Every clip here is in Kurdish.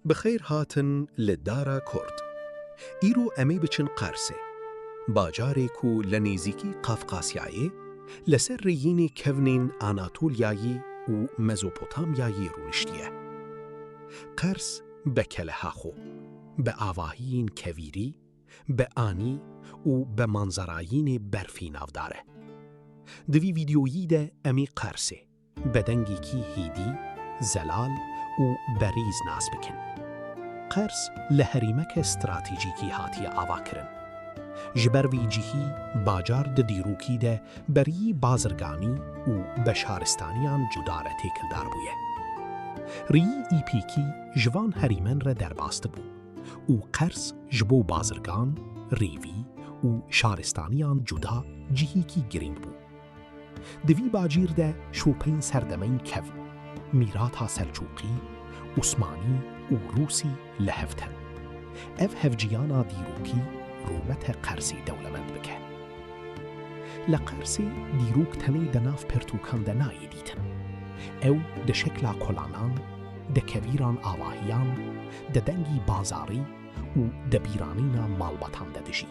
Bi xeyr hatin li Dara Kurd. Îro em ê biçin Qersê. Bajarê ku li nêzîkî Qafqasyayê, li ser rêyînê kevnên Anatolyayî û Mezopotamyayî rûniştiye. Qers be keleha xwe, be avahiyên kevîrî, be anî û be manzerayînê berfî navdar e. Di vî vîdyoyî de em ê Qersê. Bi dengekî hêdî, zelal û berîz nas bikin. Qers li herêmeke stratejîkî hatiye avakirin. Ji ber vî cihî bacar di dîrokî de berî bazirganî û beşaristaniyan cuda re têkildar bûye. Rîyî îpêkî ji van herêmen re derbasdi bû û qers ji bo bazirgan, rêvî û şaristaniyan cuda cihêkî girîng bû. Di vî bacîr de şopeyên serdemeyî kev, mîrata Selçûqî, Osmanî û Rûsî li hev tên. Ev hevciyana dîrokî rûmete Qersê dewlemend bike. Li Qersê dîrok tenê di nav pirtûkan de nayê dîtin. Ew di şekla kolanan, di kevîran avahiyan, di dengî bazarî û di bîranîna malbatan de dijî.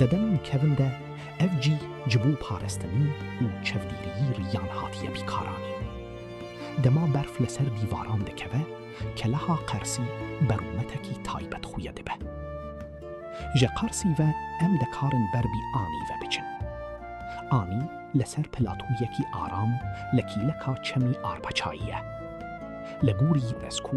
Dedem kevin de ev cîh ji bo parastinî û çevdîriyî riyan hatiye bîkaranîn. Dema berf li ser dîvaran dikeve, keleha qersî berûmetekî taybet xuye dibe. Ji qersî ve em dikarin ber bî anî ve biçin. Anî li ser platoyekî aram li kîleka çemî arpaçayî ye. Li gorî UNESCO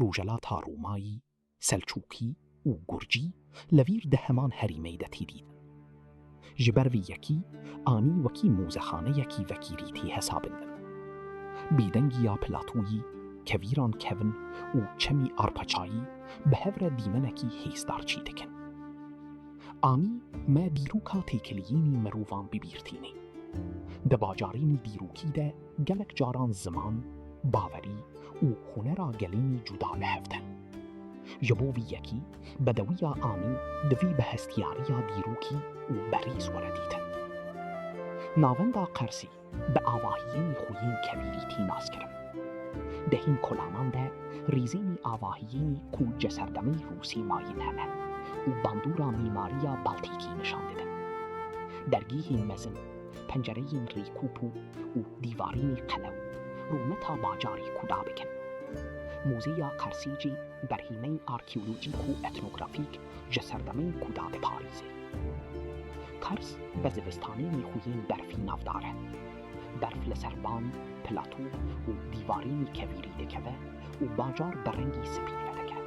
Rojhilata Romayî, Selçûkî û Gurcî li vîr di heman herîmeyî de têdîtin. Ji ber vî yekî anî wekî mozexaneyekî vekîrî tê hesabîndin. Bêdengî ya Platoyî, kevîran kevin û çemî arpaçayî bi hev re dîmenekî hêzdar çî dikin. Anî me dîroka têkiliyînî mirovan bibîr tînê. Di bajarînî dîrokî de, Gelek caran ziman, baverî û hunera gelînî cuda li hev tên. Ji bo vî yekî, bedewiya anî divî bi hestiyariya dîrokî û berîz were dîtin. Navenda Qersî bi avahiyên xwe yên kebîrî tî naskirin. Di hîn kolanan de rîzên avahiyên ku ji serdemê Rûsî mayin hene û bandora mîmariya Baltîkî nişan didin. Dergîhên mezin. pencereyên rêkûpû û dîvarînê qelew, rûmeta bajarê ku da bikin. Mûzeya Qersî jî berhîmeyên arkeolojîk û etnografîk ji serdemên ku da diparîze. Qers bi zivistanê nêxuyên berfî navdar e. Berf li ser ban, plato û dîvarînê kevîrî dikeve, û bajar bi rengî spî vedike.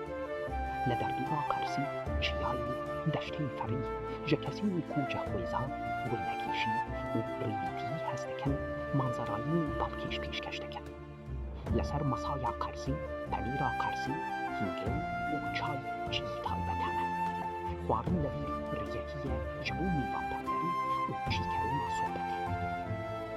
Li derdora Qersî, çiyayê deştên ferî ji kesên ku cihwêza wênekîşî û rêvîtîyî hez dikin manzerayên balkêş pêşkeş dikin. Li ser masaya Qersî, penîra Qersî, hîngên û çay cihî taybet hene. Xwarin li vîr rêyekî ye ji bo mêvanperwerî û çîkerûna sohbetê.